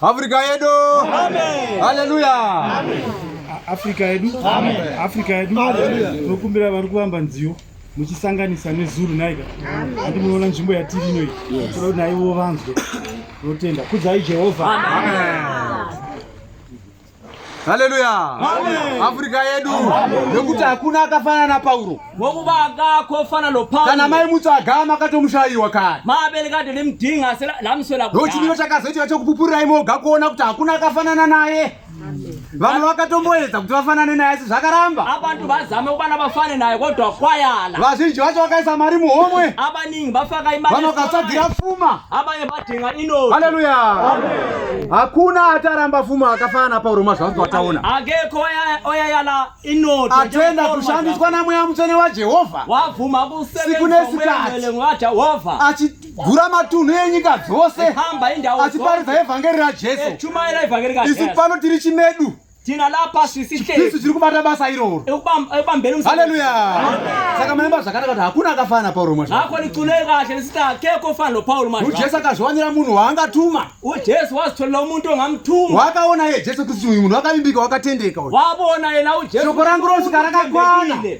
Afrika yedu. Amen. Hallelujah. Amen. Afrika yedu. Amen. Afrika yedu. Amen. Tokumbira vari kuvamba nziyo muchisanganisa nezuru naika. Amen. Ati muona nzvimbo yatiri ino iyi. Yes. Tinoda naiwo vanzwe. Totenda. Kudzai Jehovha. Amen. Amen. Haleluya! Afrika yedu nekuti hakuna akafanana na Pauro. Ngokuba akakho fana no Pauro. Kana mai mutsu agama akatomushayiwa kare. Maabele kade limdinga sela lamswela kudala. Ndochimiro chakazoitika chokupupurira imoga kuona kuti hakuna akafanana naye. Vamwe vakatomboedza kuti vafanane naye asi zvakaramba. Abantu bazame kubana bafane naye kodwa kwayala. Vazhinji vacho vakaisa mari muhomwe. Abaningi bafaka imali. Vamwe vakatsvagira fuma. Abanye Tenga ino. Haleluya. Amen. Hakuna ataramba fumo akafana Paulo mazvanzi wataona. Akekho oya yala ino. Atenda kushandiswa na mweya mutsvene wa Jehovha. Wabvuma kusebenza kumwele mwa Jehovha. Achigura matunhu enyika dzose. Achiparidza evhangeri ra Jesu. Isu pano tiri chimedu. Tina la pasi sihle. Yesu tiri kubata basa iroro. Ekubambela umsebenzi. Hallelujah. Saka mnemba zvakanaka kuti hakuna akafana Paulo manje. Ngakho licule kahle lisithi akekho ofana lo Paulo manje. UJesu akazviwanira munhu waangatuma. UJesu wazitholela umuntu ongamthuma. Wakaona ye Jesu kuti uyu munhu wakavimbika wakatendeka uyu. Wabona yena uJesu. Shoko rangu rosvika rakakwana.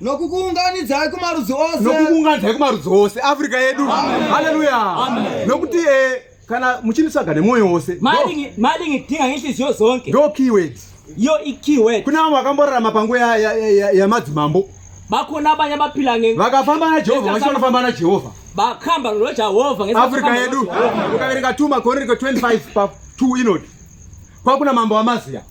nokukuunganidzai kumarudzi ose nokukuunganidzai kumarudzi ose afrika yedu haleluya nokuti eh, kana muchinitsvaga nemwoyo wose madingi tinga ngenhliziyo zonke ndo keyword yo ikeyword kuna vamwe vakamborarama panguva yamadzimambo bakona abanye abaphila nge vakafamba najehovha vachi vanofamba najehovha bakhamba nojehovha afrika yedu ukaverenga 2 makoreriko 25 pa 2 inoti kwakuna mambo wamaziya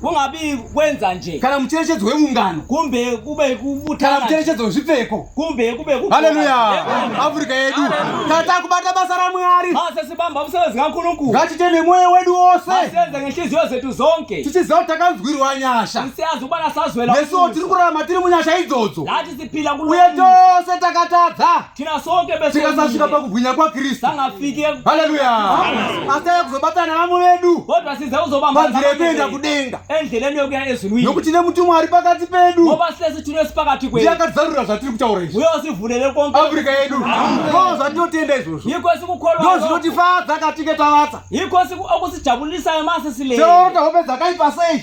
kungabi kwenza nje kana mucherechedzo weungano kumbe kube kubutana mucherechedzo wezvipfeko kumbe kube kubutana haleluya afrika yedu tata kubata basa ra mwari basa sibamba musebenzi kankulunkulu ngatite nemoyo wedu wose asenze ngenhliziyo zethu zonke tichiziva kuti takanzwirwa nyasha tisiyazi ubana sazwela yesu tiri kurarama tiri munyasha idzodzo uye tose takatadza tikasasvika pakubwinya kwakristu haleluya asi tave kuzobatana nevamwe vedu panzira yekuenda kudenga nokuti nemutumwa ari pakati pedu ndiye akatizarurira zvatiri kutaura izviafrica yedu ko zvatinotenda izvozvo ndo zvinotifadza katinge tavatsa seota hope dzakaipa sei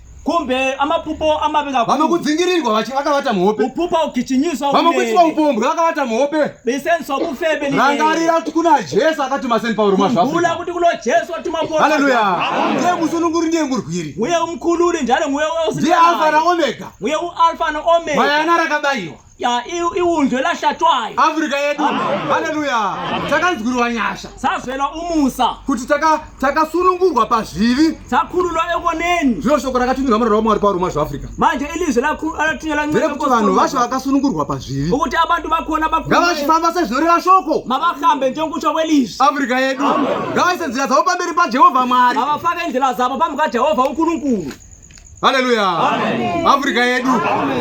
kumbe amapupo amabika vamwe kudzingirirwa vachi vakavata muhope upupa ukichinyiswa vamwe kuiswa upombwe vakavata muhope bisenso kufebe ni rangarira kuti kuna Jesu akatuma Saint Paul mwa zvafu kula kuti kulo Jesu atuma Paul haleluya ndiye musununguri ndiye murwiri uye umkhululi njalo nguye usi ndiye alfa na omega uye u alfa na omega bayana rakabaiwa ya iwundlo lahlatshwayo afrika yedu haleluya takanzwirwa nyasha sazwelwa umusa kuti takasunungurwa pazvivi takhululwa ekoneni zvino shoko rakathunyelwa murara wamwari paruma zveafrica manje ilizwi lathunyelwa ndere kuti vanhu vasho vakasunungurwa pazvivi ukuti abantu bakhona ngavachifamba sezvinoreva shoko mavahambe njengokutsva kwelizwi afrika yedu ngavaise nzira dzavo pamberi pajehovha mwari ngavafake ndlela zavo pambi kajehovha unkulunkulu Haleluya. Afrika yedu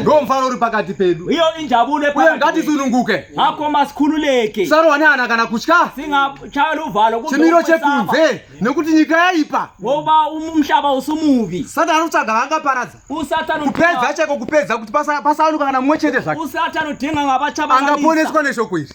ndio mfano uri pakati pedu. Hiyo injabulo ephakathi. Uye ngathi sununguke. Ngakho masikhululeke. Sarwa nana kana kuchka. Singachayela uvalo kumbe. Chimiro chekunze nekuti nyika yaipa. Ngoba umhlaba usumubi. Satana uchaga hanga paradza. Usatana kupedza cheko kupedza kuti pasawanuka kana mumwe chete zvake. Usatana udinga ngabachaba. Angaponeswa neshoko iri.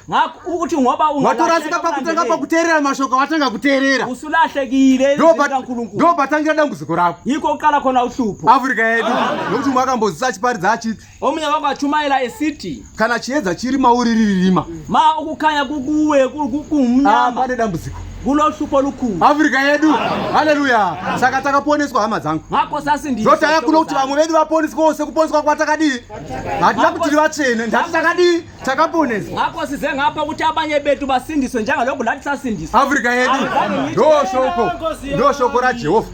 uti ngoba watorasika pakutanga pakuteerera mashoko watanga kuteerera usulahlekile ndo patangira dambudziko rako yiko kuqala khona uhlupho afrika yedu nokuti umwe akambozisa achiparidza achiti omunye wako achumayela esiti kana chiedza chiri mauri riririma ma ukukhanya kukuwe kumnyama ah, pane dambudziko kulohlupho olukhulu afrika yedu haleluya saka takaponeswa hama dzangu zotaya kuno kuti vamwe vedu vaponiswa ose kuponiswa kwatakadii hatina kuti rivatsvene ndati takadii takaponesa hako size ngapa kuti abanye betu basindiswe njanga loku lati sasindiswa africa yedu ndo shoko ndo shoko ra jehova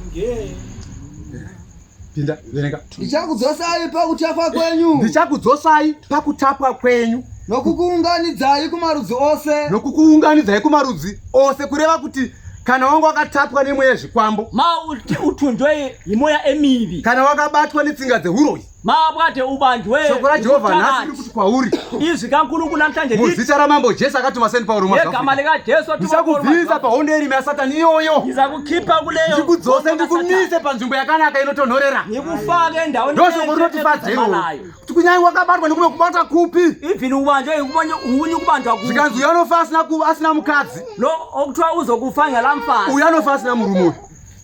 pinda verenga ndichakudzosai pakutapwa kwenyu ndichakudzosai pakutapwa kwenyu nokukuunganidzai kumarudzi ose nokukuunganidzai kumarudzi ose kureva kuti kana wanga wakatapwa nemweya zvikwambo mauti utunjwe yemoya emivi kana wakabatwa netsinga dzehuroyi mabwate ubanjwe shoko rajehovha nhasi riri kuti kwauri izwi kankulungu namhlanje muzita ramambo jesu akatuma seni pauro yegama likajesu ndichakubvisa pahondo yerima yasatani iyoyo ndizakukhipha kuleyo ndikudzose ndikumise panzvimbo yakanaka inotonhorera ndikufake endaweni ndoshoko rinotifadza iwoyo kuti kunyange wakabatwa nekume kubata kupi even ubanjwe unye kubanjwa kupi zvikanzi uyo anofa asina mukadzi lo okuthiwa uzokufa ngelamfazi uyo anofa asina murume uyu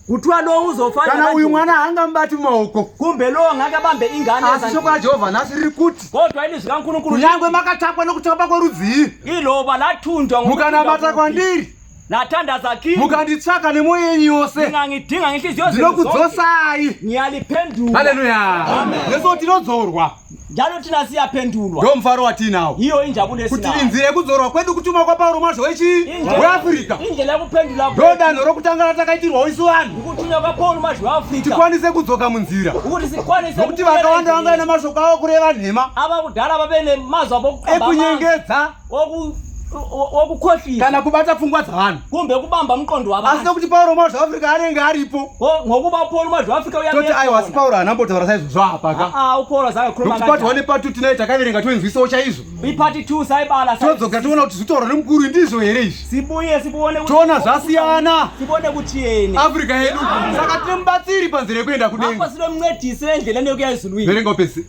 kutwa lo uzofana kana uyu mwana hanga mbati maoko kumbe lo ngaka bambe ingane asi shoko la Jehovah nasi riri kuti kodwa ini zvikankunukuru nyangwe makatapwa nokutapa kworudzii ilo balatundwa mukana mata kwandiri natandaza kini mukanditsvaka nemoyo yenyu yose ndingangidinga ngehliziyo ndinokudzosai niyaliphendula haleluya yeso tinodzorwa Jano tina siya pendulwa. Ndo mfaro watinawo. Iyo inja bude sina. Kuti inzira yekudzorwa kwedu kutuma kwa Paulo mwacho wechi we Africa. Inja la kupendula. Ndo danho rokutanga ratakaitirwa isu vanhu. Kutuma kwa Paulo mwacho wa Africa. Tikwanise kudzoka munzira. Kuti sikwanise. Kuti vakawanda vanga na mashoko awo kureva nhema. Ava kudala vabene mazwa bokukaba. Ekunyengedza. wokukhohlisa kana kubata pfungwa dzavanhu kumbe kubamba mqondo wavanhu asi nokuti pauro mazwi afrika anenge aripo ngokuba upauro mazwi afrika uyatoti aiwa asi pauro haana mbotaura saizvozvo hapa ka aa upauro zakakhulumanokuti pati one pati two tinaye takaverenga toinzwisawo chaizvo ipati two saibala todzoka tiona kuti zvitauro nemukuru ndizvo here izvi sibuye sibuone toona zvasiyana sibuone kutieni afrika yedu saka tine mubatsiri panzira yekuenda kudenga apasiro mncedisi endlela neyokuya izulu iyi verenga upese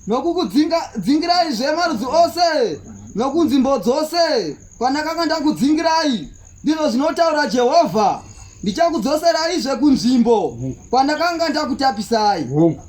nokukudzingirai zve marudzi ose nokunzvimbo dzose kwandakanga ndakudzingirai ndizvo zvinotaura jehovha ndichakudzoseraizve kunzvimbo kwandakanga ndakutapisai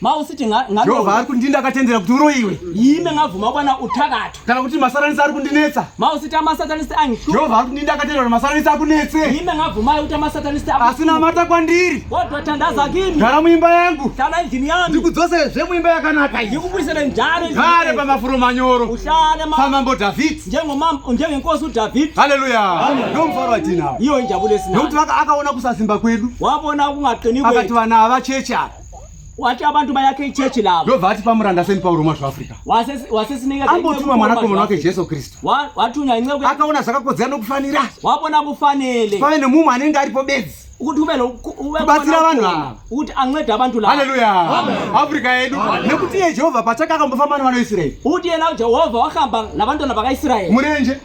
mausiti jehovha ari kundinda akatendera kuti uroyiwe ime ngabvuma kwana uthakatho kana kuti masaranisi ari kundinetsa mausiti amasatanisi angihlupha jehovha ari kundinda akatendera kuti masaranisi akunetse ime ngabvumayo kuti amasatanisi asi namata kwandiri kodwa thandaza kimi gara muimba yangu hlala endlini yami ndikudzoserezve muimba yakanaka ndikubuyisele njalo gare pamafuro manyoro uhlale pamambo dhavhidhi njengenkosi udhavhidhi haleluya ndo mufaro watinawo iyo injabulo esinayo nokuti akaona kusasimba kwedu wabona kungaqini akati vana havachechi apa wati abantu bayakhe ichechi lavo ndobva ati pamuranda seni pauro mwa zvaafrica wasesineambotuma mwanakomana wake jesu kristu wathunywa inceku akaona zvakakodzera nokufanira wabona kufanele pave nemumwe anenge aripo bedzi kuti ubebatsira vanhu ava kuti ancede abantu lava haleluya afrika yedu nekuti iye jehovha pachake akambofamba nevana veisraeri kuti yena jehovha wahamba nabantwana vakaisraeri murenje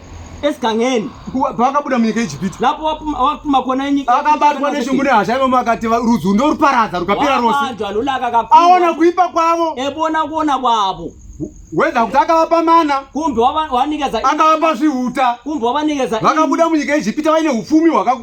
esigangeni pavakabuda munyika yejipiti napo watuma kona nyika akabatwa neshungu nehasha ivamo akati rudzi ndoruparadza rukapera rose aona kuipa kwavo ebona kuona kwavo weza kuti akavapa mana kumbe wavanikeza akavapa zvihuta kumbe wavanikeza vakabuda munyika yejipita vaine upfumi hwakaku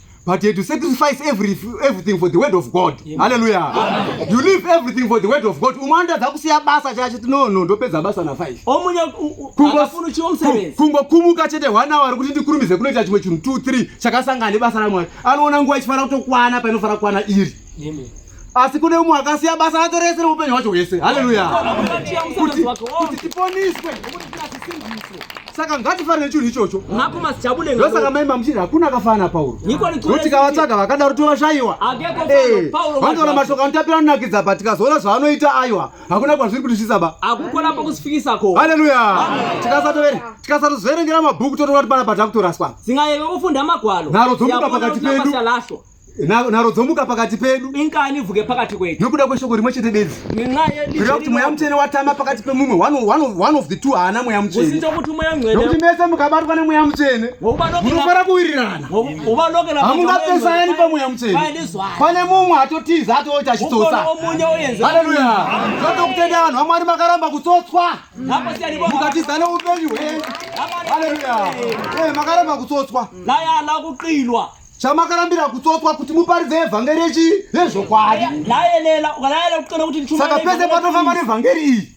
but you to sacrifice every, everything for the word of god halleluya you leave everything for the word of god umwe anotadza kusiya basa chacho no no ndopedza basa na 5 kungokumuka chete one hour kuti ndikurumize kunoita chimwe chinhu 2 3 chakasangana nebasa ramwari anoona nguva ichifanira kutokwana painofanira kukwana iri asi kune umwe akasiya basa rake rese reupenyu hwacho hwese haleluya kuti tiponiswe saka ngatifanire chinhu ichocho ndosaka maimba muchiti hakuna akafanana pauro kuti kavatsvaga vakadaro tovashayiwa eh, vandoona mashoko anotapira anonakidza pa tikazoona zvaanoita aiwa hakuna kwazviri kuti zvisaba haleluya tikasatozoverengera mabhuku totoona kuti pana patakutoraswa nharo dzomuka pakati pedu nharo dzomuka pakati pedu ingani ivuke pakati kwedu nokuda kweshoko rimwe chete bedzi ngenxayekureva kuti mweya mutsvene watama pakati pemumwe one of the two haana mweya mutsveneusite kuti mweya mwenekuti mese mukabatwa nemweya mutsvene munofara kuwirirana hamungapesayani pamweya mutsvene pane mumwe atotiza atoita achitsotsa haleluya zvatokutenda vanhu vamwari makaramba kutsotswa mukatiza neupenyu hwenyu haleluya eh, makaramba kutsotswa laya ala kuqilwa chamakarambira kutsotswa kuti muparidze evhangeri yechi yezvokwadi saka pese patofamba nevhangeri iyi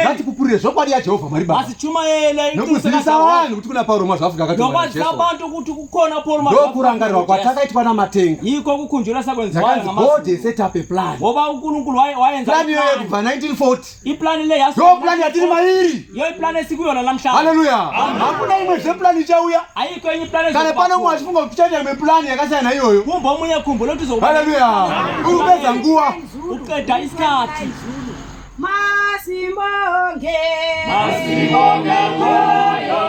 ngatipupurire zvokwadi yajehovha mwari babanokuzivisa vanhu kuti kuna pauro mwazvaafrika akatndokurangarirwa kwatakaitwa namatenga god set up a plan plan iyoyo kubva 1940 Iplan ile ya Yo plan ya tiri mairi. Yo plan siku yona la mshaka. Haleluya. Hakuna imwe zve plan ichauya. Haiko inyi plan. Kana pano mwa chifunga kuti chaita imwe plan yakasiyana iyoyo. Kumbo munye kumbo loti zo. Haleluya. Urupedza nguwa. Uqeda isikhathi. Masimbonge. Masimbonge moyo.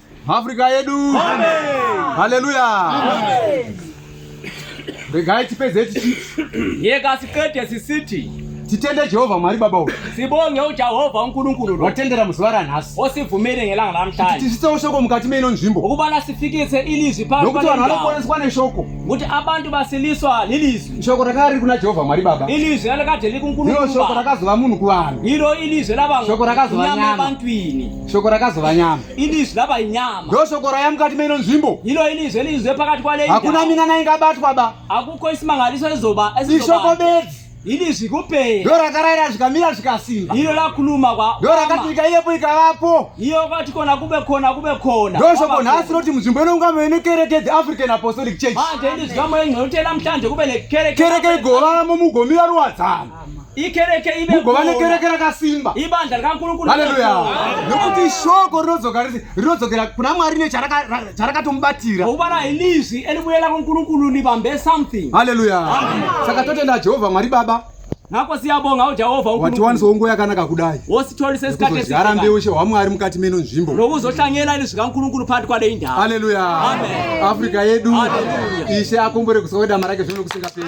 Africa yedu. Amen. Hallelujah. Amen. Regai tipedze tichi. Yeka sikete sisiti. Titende Jehovha Mwari Baba uyu. Sibonge uJehova uNkulunkulu lo. Watendera muzuva ranhasi. Osivumele ngelanga lamhlanje. Tisitse ushoko mukati meino nzvimbo. Ukubana sifikise ilizwi phambi Nokuti vanhu vanoponeswa neshoko. Kuti abantu basiliswa lilizwi. Shoko rakanga riri kuna Jehovha Mwari Baba. Ilizwi lalikade likuNkulunkulu Baba. Ndilo shoko rakazova munhu kuvanhu. Ilo ilizwi laba. Shoko rakazova nyama. Nyama ebantwini. Shoko rakazova nyama. Ilizwi laba inyama. Ndilo shoko raya mukati meino nzvimbo. Ilo ilizwi elizwe pakati kwale indawo. Hakuna minana ingabatwa ba. Akukho isimangaliso ezoba esizoba. Ishoko bedzi. Ilizwi kuphela. Ndilo rakaraira zvikamira zvikasimba. Ilo lakhuluma kwa. Ndilo rakati nyika iyepo ikavapo. Iyo kwati kona kube khona kube khona. Ndilo shoko nhasi loti munzvimbo ino ungame ine kereke the African Apostolic Church. Manje ilizwi kamwe nginote namhlanje kube nekereke. Kereke igolamo mugomira ruwadzana. ikereke ive mugova nekereke rakasimba ibandla rikakurukura haleluya nokuti shoko rinodzoka rese rinodzokera kuna mwari necharakatomubatira kuva rainizwi elibuyela kunkurukuru libambe something haleluya saka totenda jehovha mwari baba nako siyabonga ujehovha watiwanisawo nguva yakanaka kudai wositolise sikatezigara mbeushe hwamwari mukati meno nzvimbo nokuzohlangela ini zvikankurukuru phakathi kwale indawo haleluya afrika yedu ishe akombore kusokwedama rake zvino kusingaperi